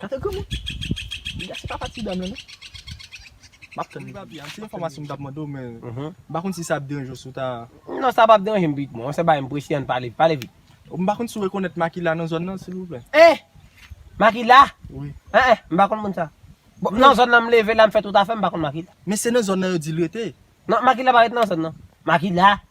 Gade granmoun. Li gate papa ti dam lan non. Map tann li. Wi papi, anpil enfòmasyon m tap mande w men m pa konn si sa ap deranje w si w ta Non sa pap deranje m pik mwen, se bagay m prese ann pale, pale vit. M pa konn si w rekonèt Makila nan zòn nan silvouplè. Hein! Makila? Wi. Hein hein, m pa konn moun sa. Bon, nan zòn nan m leve la m fè tout afè m pa konn Makila. Men se nan zòn nan yo di l rete. Non, Makila pa rete nan zòn nan. Makila?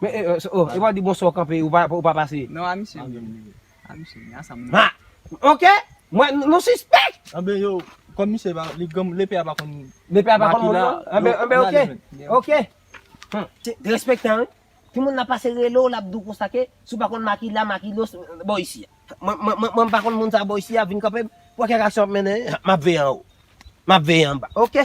Men e e oh epa di bonswa ou kanpe ou pa ou pa pase. Non a misye li menm li. A misye li a sa moun. Ha! Ok! Mwen nou sispèk! Anben yo kòm misye pa li granm lepe a pa konn Lepe a pa konn moun non? Anben anben ok! Ok! Hum Derespektan wi. Ti moun nan pase rele w lap di w konsa ke si w pa konn makila makilo se bò isi a. Mwen mwen mwen mwen pa konn moun sa bò isi a vin kanpe m pou w wè kèk aksyon w ap mennen map veye anwo. Map veye anba. Ok!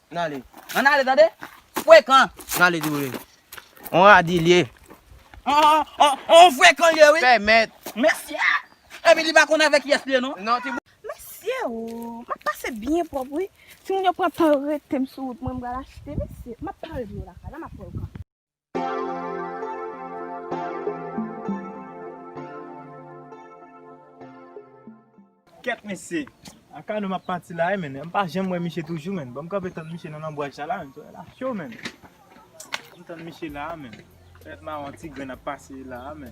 Nale. An nale tande. Frekan. Nale di wouye. On radi liye. On frekan liye wi. Pèmèt. Mesye. Epi li pa konn avèk yes liye non. Non ti. Mesye ooh. Map pase byen pwòp wi. Timoun yo pran tan yo retem sou wout mwen m pral achte mesye. Map pale pou yo lakay la map wè yo kanpe. Kèt mesye. Akano map pati la wi men. M pa janm wè misye toujou men. Banm kanpe tann misye nan lanbwa cha la men. Soirée la cho men. Banm tann misye la men. Bèt mawon ti grenn ap pase la men.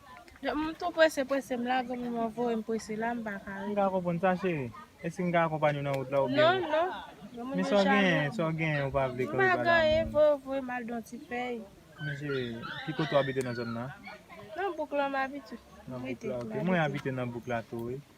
M tou prese prese m la granmoun mwen voye m prese la m pa ka rete. M ka konprann sa cheri. Eske m ka akonpanye w nan wout la oubyen. Non non granmoun mwen chame. Men sa w genyen sa w genyen ou pa vle kore pa la. M pa genyen voye w voye m al don ti fèy. Men cheri ki kote w abite nan zòn nan. Nan bouk la m abite. Nan bouk la ok mwen abite nan bouk la tou wi.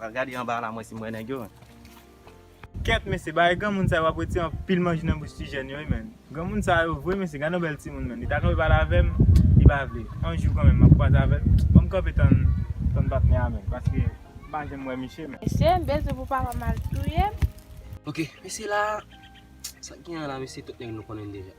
Al gade anba la mwen si m wè nèg yo menm. Kèt mesye bagay granmoun sa yo ap retire anpil manj nan bouch ti jèn yo wi menn. Granmoun sa yo vre mesye gad yon bèl timoun menn li ta kanpe pale avèm li pa vle yon jou kanmenm map kwaze avèl banm kanpe tann patnè a menm paske m pa janm wè miche menn. Mesye m bezwen pou papa m al touyem. Ok mesye la sak gen la mesye tout nèg nou konnen deja.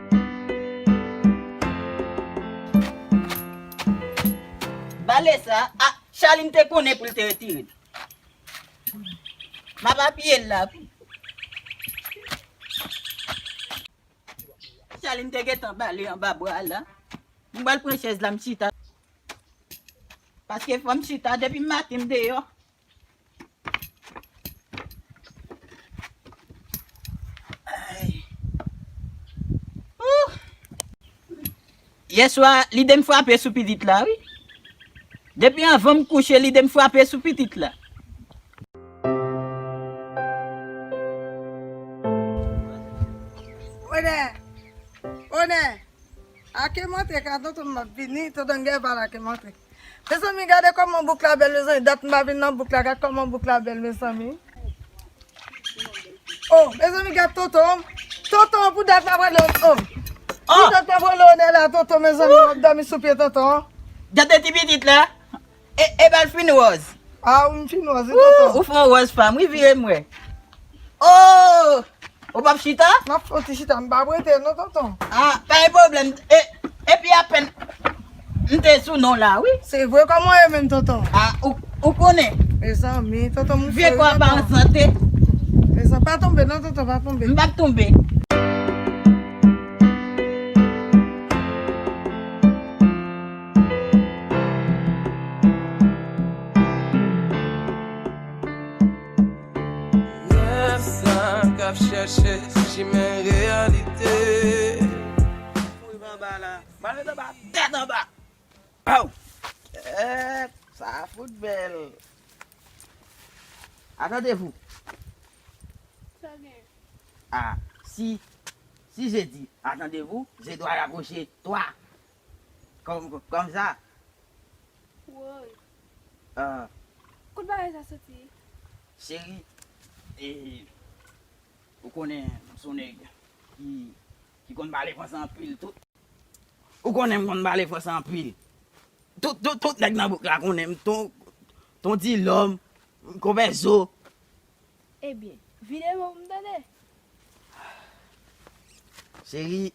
Bale sa a Charline te konnen pou l te retire l. M ap apiye l la pou w. Charline te gentan bale anba bra l la. M pral pran chèz la m chita. Paske fò m chita depi m maten m deyò. Yè swa lide m frape sou pitit la wi. Depi anvan m kouche lide m frape sou pitit la. Onè! Onè! Ake m antre ka tonton m ap vini, tonton Gèval ake m antre. Mezanmi gade koman bouk la bèl mezanmi dat m pa vin nan bouk la gad koman bouk la bèl mezanmi oh mezanmi gad tonton an tonton an pou dat la prale oh pou dat la prale one la tonton mezanmi wap domi sou pye tonton an gade ti pitit la ebal fin ròz ah wi m fin ròz wi tonton ou fon ròz fanm wi vire m wè Ooh! Ou pap chita? M ap fè yon ti chita, m pa prete non tonton. Ah, pa gen pwoblèm. E, epi apèn m te sou non w la wi. Se vre, kòman w ye menm tonton? Ah, ou, ou konnen. Mezanmi, tonton m fè yon tonton. Mezanmi, pa tonbe non tonton, pa tonbe. M pap tonbe. Rèv sa k ap chèche chimen reyalite. Rive anba la. Pral met anba tèt anba. Aww kèèt sa fout bèl. Atande vou. Sa w gen? Ah si si je di atande vou je dwa rapwoche twa Kòm sa. Woy. Ahh. Kot bagay sa soti? Cheri, eh, ou konnen m son nèg ki, ki konn pale franse anpil tout. Ou konnen m konn pale franse anpil. Tout, tout, tout nèg nan bouk la konnen m ton, ton Dilòm, Konpè Zo. Ebyen, vide men pou m tande. Cheri,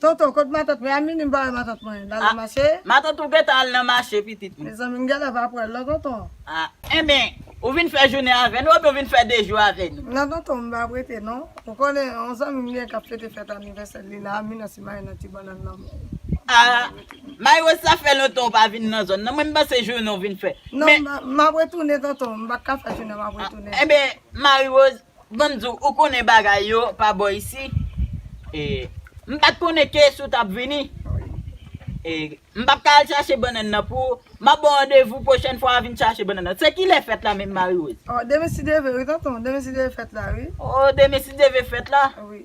Tonton kot matant mwen a mimi ba we matant mwen lal nan mache. Matant ou gentan al nan mache pitit m. Mezanmi m genlè pa pwèl non tonton. Enben ou vin fè jounen avè nou oubyen ou vin fè 2 jou avè nou. Non tonton m pa prete non. Ou konnen yon zanmi m gen kap fete fèt anivèsèl li la mi nan si mayi nan ti bannann nan menl. Ah Mayi Rose sa fè lontan ou pa vin nan zòn nan mwen m panse jounen ou vin fè. Non map retounen tonton m pat ka fè jounen map retounen. Enben Marie Rose, ban m di w, ou konnen bagay yo pa bò isi, e m pa t konnen ke si w t ap vini, e m p ap ka al chache bannann nan pou ou, m ap ba w randevou pwochèn fwa w vin chache bannann nan. Se kilè fèt la menm Marie Rose? Oh, demen si Dieu veut wi tonton, demen si Dieu veut fèt la wi. Oh, demen si Dieu veut fèt la? Wi.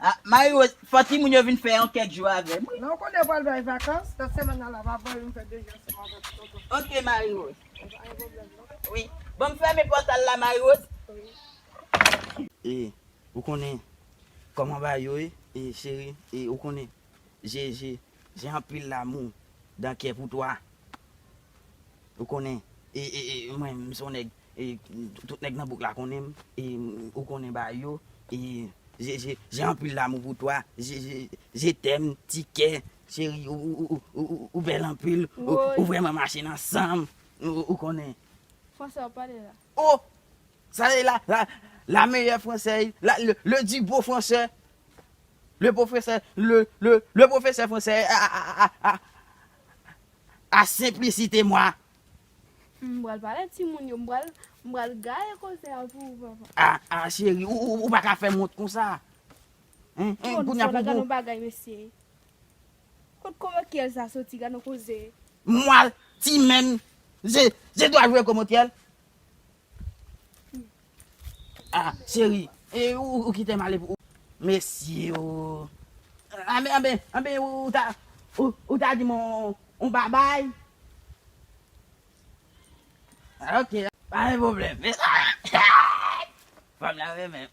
Ah Marie Rose fò timoun yo vin fè yon kèk jou avèm wi. Nan ou konnen yo pral bay vakans nan semèn nan la va voye m fè 2 jou ansanm avèk tonton. Ok Marie Rose. Bon pa gen pwoblèm non. Wi. Banm fèmen pòtal la Marie Rose. Wi. E ou konnen kòman bagay yo ye e cheri e ou konnen je je je anpil lamou dan kè pou toi. Ou konnen mwen m son nèg tout nèg nan bouk la konnen m ou konnen ba yo j'ai anpil d'amour pour toi je t'aime ti kè cheri ou bèl anpil ou vrèman mache nan sanm ou konnen. Français wap pale la. Oh! Sa se la la meyè fransè la le di bo fransè le pwofesè le pwofesè fransè a a a a a a. a simplicite moi. M pral pale ak timoun yo, m pral m pral gaye koze a pou ou papa. Ah ah chéri ou pa ka fè m wont konsa hein hein kounya pou pou. Bon gad yon bagay mesye kot komokyèl sa soti gad yon koze. Moi ti men je dois jouer komokyèl. Ah cheri ou kitem ale pou Mesye oo Anben anben anben ou ta ou ta dim on babay Ok pa gen pwoblèm Fanm nan renmen m.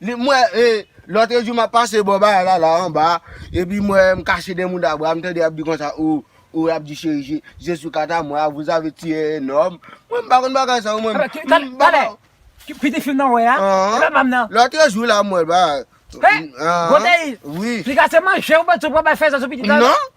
M wè lotre jou m ap pase bò bagay la la anba epi m wè m kache dèyè mouda bwa m tande y ap di konsa o o y ap di cheri je suis quant à moi vous avez tué un homme mwen m pa konn bagay sa yo mwen Tande piti fim nan w wè a e pa manm nan Lotre jou la m wè l bagay He Godeil Li ka se manje ou bwè di sou pral bay fè zè sou pitit la Non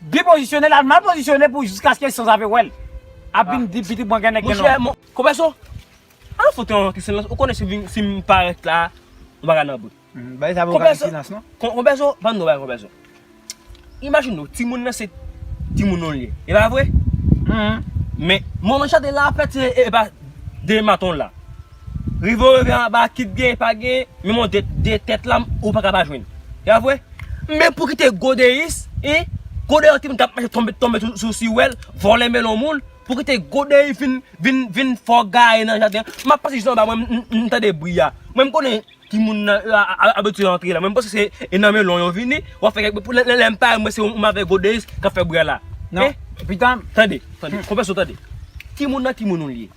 Byen pozisyone lal mal pozisyone pou jiskaske san zave wèl ap vin di pitit mwen gen nèg gen nonm. Komeso Al fout yon ti silans ou konnen sim parèt la yon bagay nan bout. Bagay sa poko ka gen silans non. Konpèso banm di yon bagay konpèso imajine ou timoun nan se timoun ou li ye epa vre men moman chante la fèt se epa dema ton la. Rive w rive anba kit gen pa gen menm yon de tèt la ou paka pa jwenn. Se pa vre? Men pou kite godeyis e godeyi timoun kap mache tonbe tonbe sou si wèl vòlè melon moun pou kite godeyi vin vin vin fè w gaye nan jaden an. Map pase jis anba mwen m tande bri a. Mwen m konnen ki moun nan yo abitye antre la men m panse se e nan melon yo vini wap fè kèk bri lè m pare m wè se ou avèk godeyis kap fè bri a la. Nan pitanm. Tande tande konpè sou tande. Ki moun nan ki moun ou li ye?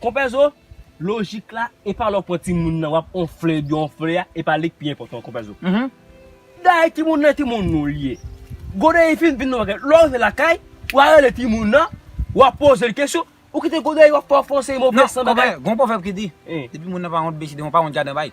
Konpè zo, lojik la, epa lè w pran timoun nan wap onfle ebyen onfle a, epa li k pi enpòtan konpè zo. Dayè timoun nan timoun nou li ye. Gonayiv vin vin yon bagay, lè w rive lakay, wa rele timoun nan, wa poze l kesyon, ou kite Gonayiv ap fè w fè yon seri mo vèsan bagay. Non konpè, gon pwovèb ki di, depi moun nan pa wont besi de won pa wont jaden bay.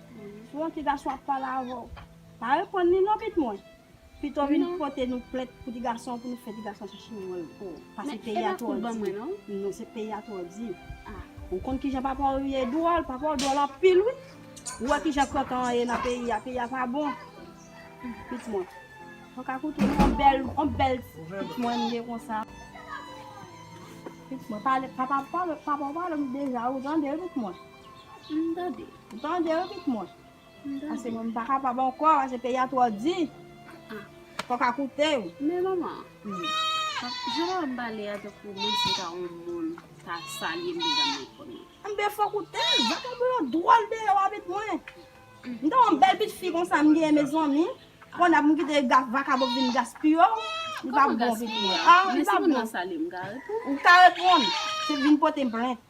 Bon ti gason ap pale avè w. Pa reponn li non pit mwen. Pito vin pote nou plent pou ti gason pou nou fè ti gason chache manman l pou ou. Pase peyi a twò di. Non se peyi a twò di. Ou konn kijan papa w ye dwòl. Papa w dwòl anpil wi. Ou wè kijan kantan an ye nan peyi a. Peyi a pa bon. Pit mwen. Mwen ka koute w. Yon bèl yon bèl pit mwen m ye konsa. Pit mwen pale papa w pale m deja ou tande wi pit mwen. M tande. Ou tande wi pit mwen. Pase mwen pa kapab ankò pase peyi a twò di. Kòk a koute wi. Men manman. Jan wè m pale a tankou menm si ta yon moun ta salye m deja m ret konn li. Anben fòk ou te. Vwa tankou yon dwòl deyò a pit mwen. M ta yon bèl pit fi konsa m genyen mezanmi. Konn ap m kite vakabon ap vin gaspiye w. Li pa bon pit mwen. Li pa bon. Men si moun nan salye m m ka reponn. Ou ka reponn. Se vin pote m plent.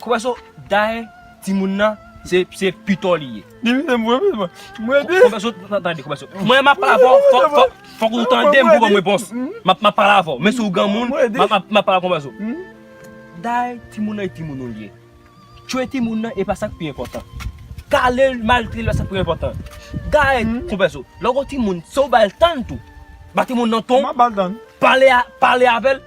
Konpè so daye timoun nan se pitò li ye. Di misye mwen pi bon. Mwen di. Konpè so tande konpè so. Mwen map pale avè w fòk ou tande m pou w banm repons. Map pale avè w menm si w granmoun map pale konpè so. Daye timoun nan e timoun ou li ye. Tchwe timoun nan e pa sak pi enpòtan. Kale l maltrete l e pa sak pi enpòtan. Daye konpè so lè w gen yon timoun se w ba l tan tou. Ba timoun nan ton. Mwen pa ba l tan. Pale avè l.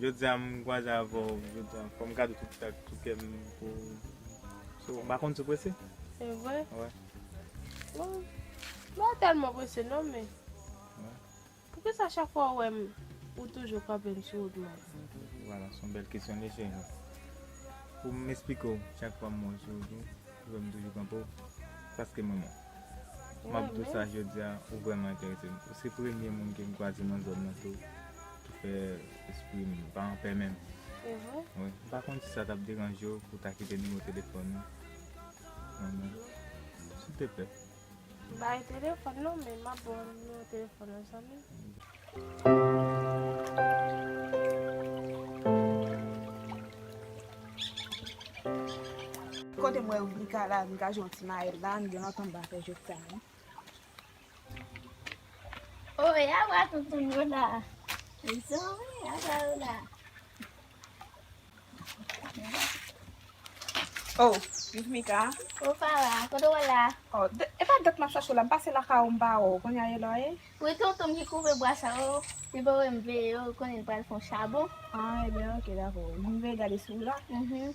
Jodia m kwaze avèw jodia fòm gade tout sa ak tout kèm pou ou so m pa konn si w prese? Se vre? Wè. Bon m pa tèlman prese non men poukisa chak fwa ou wè m ou toujou kanpe m sou wout m an? Voilà son bèl kesyon li cheri. Pou m esplike w chak fwa m wè w sou wout ou ou wè m toujou kanpe w paske m renmen w. M ap di w sa jodia ou vrèman enterese m. Ou se premye moun ke m kwaze nan zòn nan tou. Fè espri m pa anpè menm. Se vre? Wi. M pa konn si sa t ap deranje w pou w ta kite nimewo telefòn ou pou mwen. Silteplè. Bay telefòn nan men m ap ba w nimewo telefòn ou zanmi m. Kote m wè Rika la, Rika jwe yon ti mayèt la, m gen lontan m pa fè jwèt sa non. Oh, e a bra toutoun yo la. E so, e a bra yo la. Oh, mi fmi ka. Ou pa la, koto wè la. Oh, e pa dèk ma chache la, m pase la ka ou m ba ou, koun ya e lò e. Ou e toutoun ki kouve bra sa ou, li pa wè m veye ou, koun e l pral fon chabon. Ah, e byen, ok, dako. M veye gade si ou la. Mh.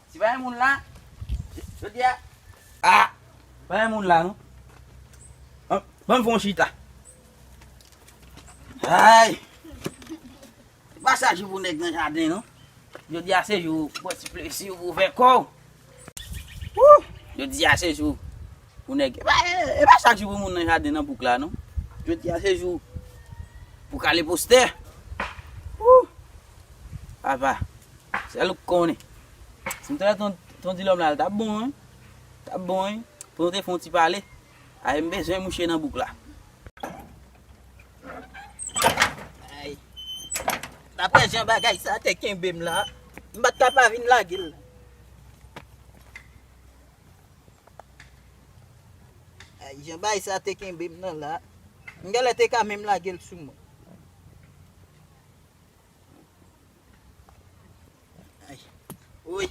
Si pa gen moun la Jodi a Ah Pa gen moun la non Ban m fè yon chita Ayy Se pa chak jou pou nèg nan jaden non Jodi a se jou pou w pran ti plezi w pou w fè kò w Wouh Jodi a se jou pou nèg E pa e pa chak jou pou moun nan jaden nan bouk la non Jodi a se jou pou w kale postè Wouh Apa Sèl ou k konnen. Si m t wè ton Dilòm la l tap bon wi, l tap bon wi pou nou te fè yon ti pale. Ay m bezwen mouche nan bouk la. Ay. Daprè jan bagay sa te kenbe m la, m pa t ka pa vin lage l. Ay jan bagay sa te kenbe m nan la, m genlè te ka menm lage l sou mwen. Wouyy,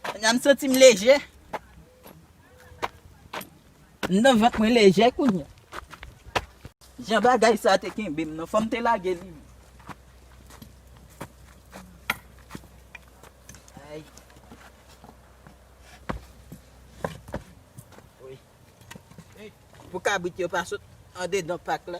kounya m santi m lejè. M nan vant mwen lejè kounya. Jan bagay sa te kenbe m nan, fò m te lage li. Pou kabrit yo pa sot andedan pak la.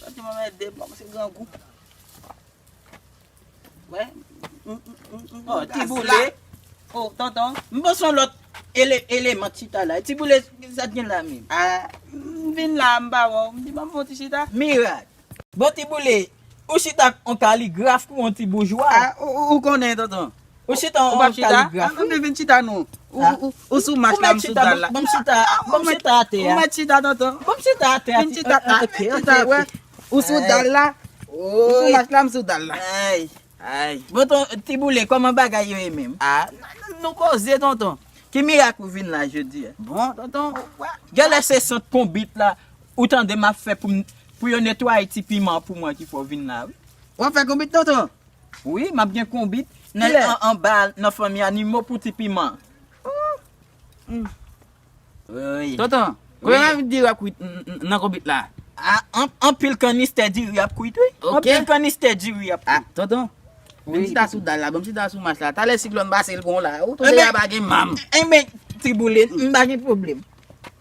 Santi mwen mède m se grangou. Wè. Oh, ti boule. Oh, tonton. M bon son lot ele eleman chita la. Ti boule sa t gen la menm. Ah, m vin la m pa wè w. M di ban m fon ti chita. Mirak. Bon ti boule, ou chita on kaligraf kou on ti boujwa. Ah, ou konnen tonton. Ou chita an kaligraf wi. Ou pa chita? An tande vin chita non. Ou sou mat la m sou dal la. Ou mèt chita a. Ou mèt chita atè a. Ou mèt chita tonton. Ou mèt chita atè a. Vin chita atè a. Vin chita atè a. Ou sou dal la. Ou sou mat la m sou dal la. Ay. Ay. Bon ton ti boule kòman bagay yo ye menm? A nou koze tonton. Ki mirak ou vin la jodi a? Bon tonton wa. Gèlè se sant konbit la ou tande m ap fè pou yo netwaye ti piman pou mwen ki fè w vin la wi. W ap fè konbit tonton? Wi map gen konbit nèg an anba nan fanmi animo pou ti piman ooii. Tonton kòman map di diri ap kwit nan konbit la. Anpil kanistè diri ap kwit wi. Anpil kanistè diri ap kwit. Tonton menm chita sou dal la banm chita sou mach la talè siklòn pase l pran w la ou tonbe a pa gen manm. Enben tiboule m pa gen pwoblèm.